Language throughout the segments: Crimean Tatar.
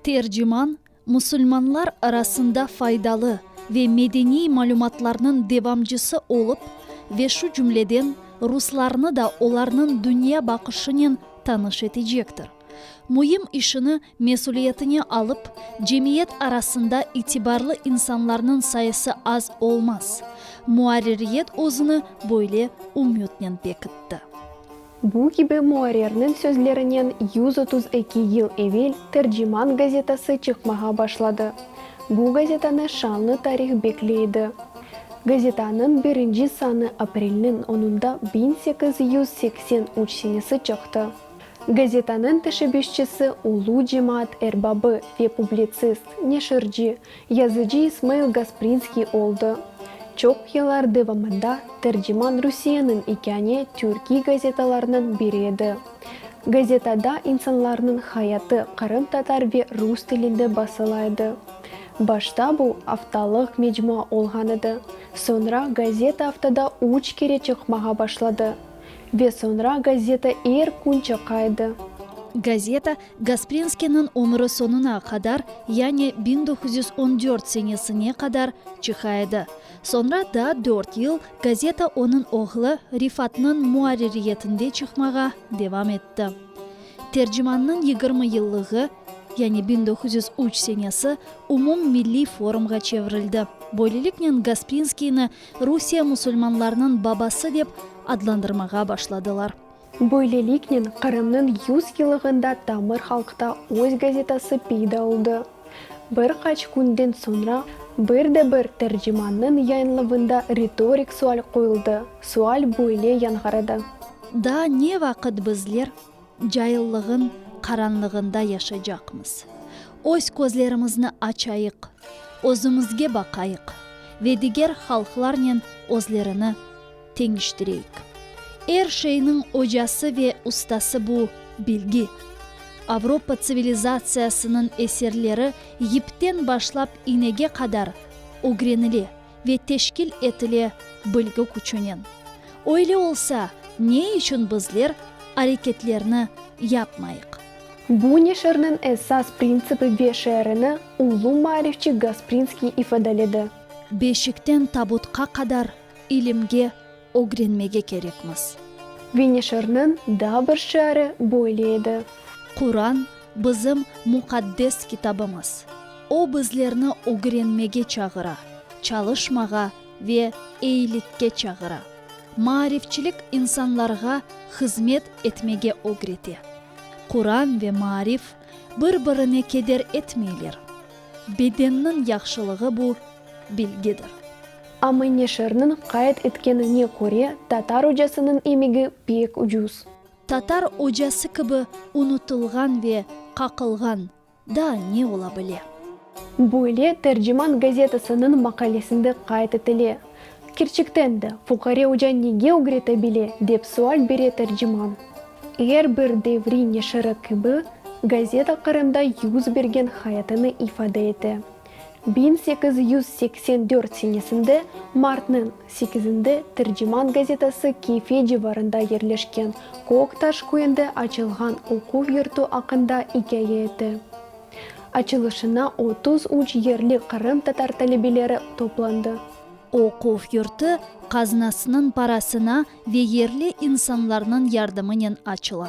Terciman, Musulmanlar arasında faydalı ve medeniy malümatlarnıñ devamcısı olıp ve şu cümleden ruslarnı da olarnıñ dünya baqışınen tanış etecektir. Müim işini mesüliyetine alıp, cemiyet arasında itibarlı insanlarnıñ sayısı az olmaz. Muarririyet özüni böyle ümütnen bekitti. Bu kibi muarrirniñ sözlerinen yüz otuz eki yıl evel Terciman gazetası çıqmağa başladı. Bu gazetanı şanlı tarih bekley edi. Gazetanıñ birinci sanı aprelniñ onunda biñ sekiz yüz seksen üç senesi çıqtı. Gazetanıñ teşebbüsçisi, ulu cemaat erbabı ve publitsist, neşirci, yazıcı İsmail Gasprinskiy oldı. Çoq yıllar devamında Terciman Rusiyeniñ ikâne türkiy gazetalarınıñ biri edi. Gazetada insanlarnıñ hayatı qırımtatar ve rus tilinde basıla edi. Başta bu, aftalıq mecmua olğan edi, soñra gazeta aftada üç kere çıqmağa başladı. Ve soñra gazeta er kün çıqaydı. Gazeta Gasprinskiyniñ ömüri soñuna qadar, yani biñ doquz yüz on dört senesine qadar çıqaydı. Soñra daa dört yıl gazeta onıñ oğlu Rifatnıñ muarririyetinde çıqmağa devam etti. Tercimannıñ yigirmi yıllığı, yani biñ doquz yüz üç senesi, umum milliy forumğa çevirildi. Böyleliknen Gasprinskiyni Rusiye musulmanlarnıñ babası dep adlandırmağa başladılar. Böyleliknen, Qırımnıñ yüz yılığında tamır halqta öz gazetası peyda oldı. Bir qaç künden soñra, bir de bir tercimannıñ yayınlavında ritorik sual qoyuldı, sual böyle yañğıradı. Daa ne vaqıt bizler. Caillığın qaranlığında yaşacaqmız. Öz közlerimizni açayıq, özümizge baqayıq ve diger halqlarnen özlerini teñiştireyik. Er şeyniñ ocası ve ustası bu, bilgi. Avropa tsivilizatsiyasınıñ eserleri yipten başlap iynege qadar ögrenile. ve teşkil etile bilgük içünen. Öyle olsa, ne içün bizler areketlerni yapmayıq? Bu neşirniñ esas printsipi ve şeerini ulu maarifçi Gasprinskiy ifadaledi. Beşikten tabutqa qadar ilimge Ögrenmege kerekmiz. Venişirniñ daa bir şiari böyle edi. Quran, bizim muqaddes kitabımız. O bizlerni ögrenmege çağıra, çalışmağa ve eyilikke çağıra. Maarifçilik insanlarğa hızmet etmege ögrete. Quran ve maarif bir-birine keder etmeyler. Bedenniñ yahşılığı bu, bilgidir. Amma neşirniñ qayd etkenine köre, tatar ocasınıñ emegi pek ucuz. Tatar ocası kibi unutılğan ve qaqılğan daa ne ola bile? Böyle Terciman gazetasınıñ maqalesinde qayd etile. Kerçekten de, fuqare oca nege ügrete bile, dep sual bere Terciman. Er bir devri neşiri kibi, gazeta Qırımda yüz bergen hayatını ifade ete. Biñ sekiz yüz seksen dört senesinde martnıñ sekizinde Terciman gazetası Keyfe civarında yerleşken Köktaş köyünde açılğan oquv yurtu aqqında ikâye etti. Açılışına otuz üç yerli Qırım tatar talebeleri toplandı. Oquv yurtu qaznasınıñ parasına ve yerli insanlarnıñ yardımınen açıla.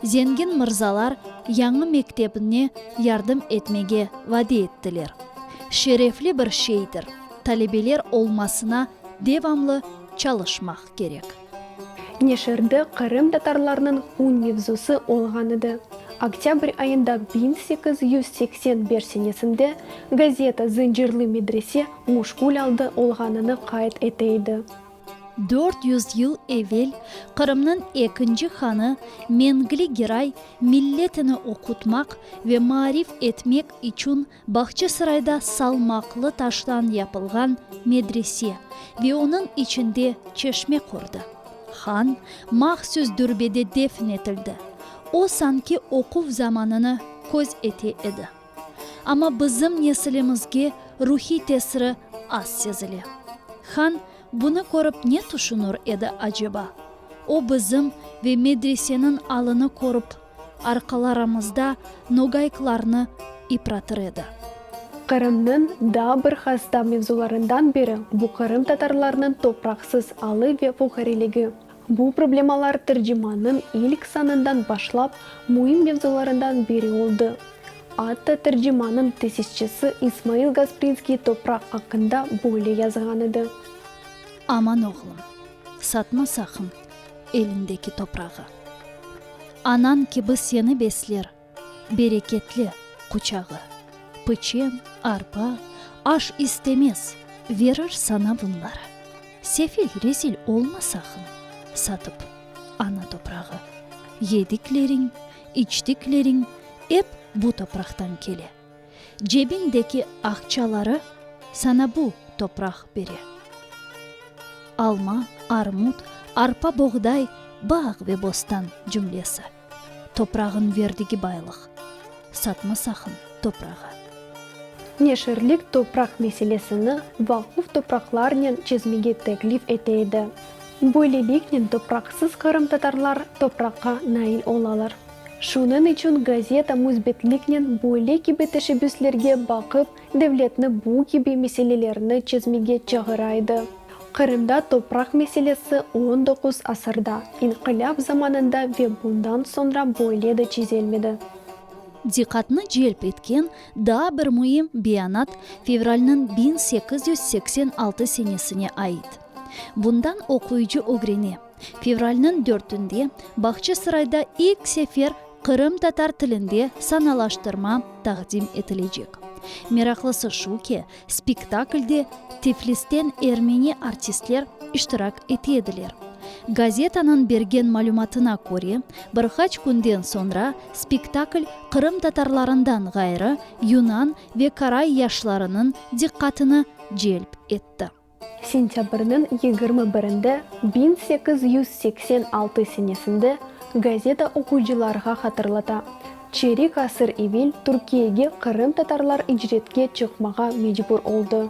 Zengin mırzalar yañı mektebne yardım etmege vade ettiler. Şerefli bir şeydir, talebeler olmasına devamlı çalışmaq kerek. Neşirde Qırım tatarlarnıñ un mevzusı olğan edi. Oktâbr ayında biñ sekiz yüz seksen beş senesinde gazeta Zıncırlı medrese muşgul aldı olğanını qayd ete edi. Dört yüz yıl evel Qırımnıñ ekinci hanı Mengli Giray milletini oqutmaq ve maarif etmek içün Bağçasarayda salmaqlı taştan yapılğan medrese ve onıñ içinde çeşme qurdı. Han mahsus dürbede defn etildi. O sanki oquv zamanını köz ete edi. Amma bizim nesilimizge ruhiy tesiri az sezile. Han bunı körip ne tüşünür edi aceba? O bizim ve medreseniñ alını körip, arqalaramızda nogayklarnı ipratır edi. Qırımnıñ daa bir hasta mevzularından biri, bu qırımtatarlarnıñ topraqsız alı ve fuqareligi. Bu problemalar tercimannıñ ilk sanından başlap müim mevzularından biri oldı. Atta tercimannıñ tesisçisi İsmail Gasprinskiy topraq aqqında böyle yazğan edi. Aman oğlum, satma saqın elindeki toprağı. Anañ kibi seni besler. Bereketli quçağı. Pıçem, arpa, aş istemez, verir sana bunları. Sefil, rezil olma saqın, satıp, ana toprağı. Yedikleriñ, içtikleriñ ep bu topraqtan kele. Cebiñdeki aqçaları sana bu topraq bere. Alma, armut, arpa, boğday, bağ ve bostan cümlesi. Toprağın verdigi baylıq. Satma saqın toprağı. Neşirlik topraq meselesini vaquf topraqlarnen çezmege teklif ete edi. Böyleliknen topraqsız qırımtatarlar topraqqa nail olalar. Şunıñ içün gazeta müsbetliknen böyle kibi teşebbüslerge baqıp, Devletni bu kibi meselelerni çezmege çağıra edi. Qırımda topraq meselesi on doquz asırda, inqilâp zamanında ve bundan soñra böyle de çezelmedi. Diqqatnı celp etken daa bir müim beyanat fevralniñ biñ sekiz yüz seksen altı senesine ait. Bundan oquyıcı ögrene. Fevralnıñ dörtünde Bağçasarayda ilk sefer qırımtatar tilinde sanalaştırma taqdim etilecek. Meraqlısı şu ki, spektaklde Tiflisten ermeni artistler iştirak ete ediler. Gazetanıñ bergen malümatına köre, bir qaç künden soñra spektakl qırımtatarlarından ğayrı yunan ve karay yaşlarınıñ diqqatını celp etti. Sentâbrniñ yigirmi birinde biñ sekiz yüz seksen altı senesinde gazeta oquyıcılarğa hatırlata, çerik asır evil Türkiyege qırımtatarlar icretke çıqmağa mecbur oldı.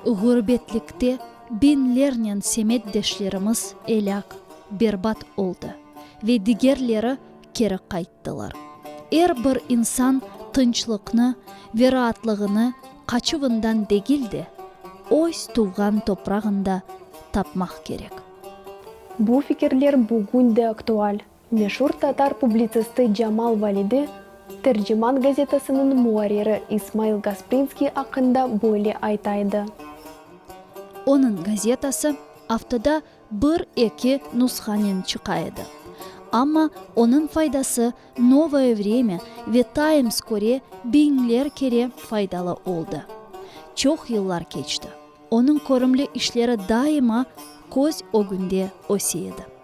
Ğurbetlikte biñlernen semetdeşlerimiz elâk, berbat oldı ve digerleri keri qayttılar. Er bir insan tınçlıqnı ve raatlığını qaçuvından degil de, öz tuvğan toprağında tapmaq kerek. Bu fikirler bugün de aktual. Meşur tatar publitsisti Camal Validi Terciman gazetasınıñ muarriri İsmail Gasprinskiy aqqında böyle ayta edi. Onıñ gazetası aftada Bir, eki nushanen çıqa edi. Amma onıñ faydası Novoye Vremya ve Tayms köre biñler kere faydalı oldı. Çoq yıllar keçti, onıñ körümli işleri daima köz ögünde öse edi.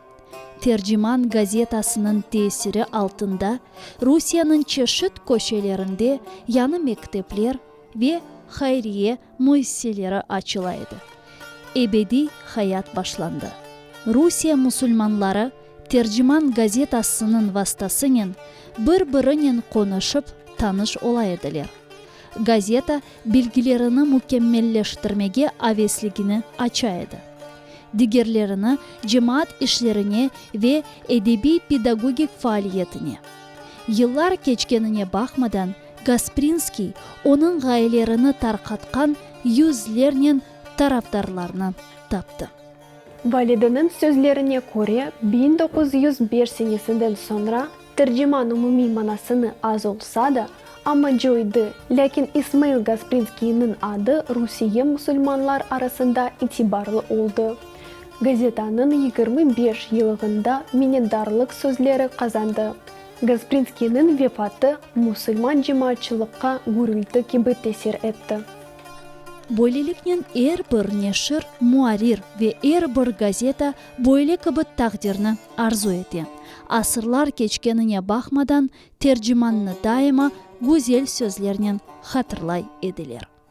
Terciman gazetasınıñ tesiri altında Rusiyeniñ çeşit köşelerinde yañı mektepler ve hayriye müessiseleri açıla edi. Ebediy hayat başlandı. Rusiye musulmanları Terciman gazetasınıñ vastasınen bir-birinen qonuşıp, tanış ola ediler. Gazeta bilgilerini mükemmelleştirmege avesligini aça edi. Digerlerini cemaat işlerine ve edebiy-pedagogik faaliyetine. Yıllar keçkenine baqmadan, Gasprinskiy onıñ ğayelerini tarqatqan yüzlernen tarafdarlarnı taptı. Valideniñ sözlerine köre, biñ doquz yüz beş senesinden soñra terciman umumiy manasını az olsa da, amma coydı, lâkin İsmail Gasprinskiyniñ adı Rusiye musulmanlar arasında itibarlı oldı. Gazetanıñ yigirmi beş yılığında minnetdarlıq sözleri qazandı. Gasprinskiyniñ vefatı musulman cemaatçılıqqa gürülti kibi tesir etti. Böyleliknen er bir neşir, muarrir ve er bir gazeta böyle kibi taqdirni arzu ete. Asırlar keçkenine baqmadan, tercimannı daima güzel sözlernen hatırlay ediler.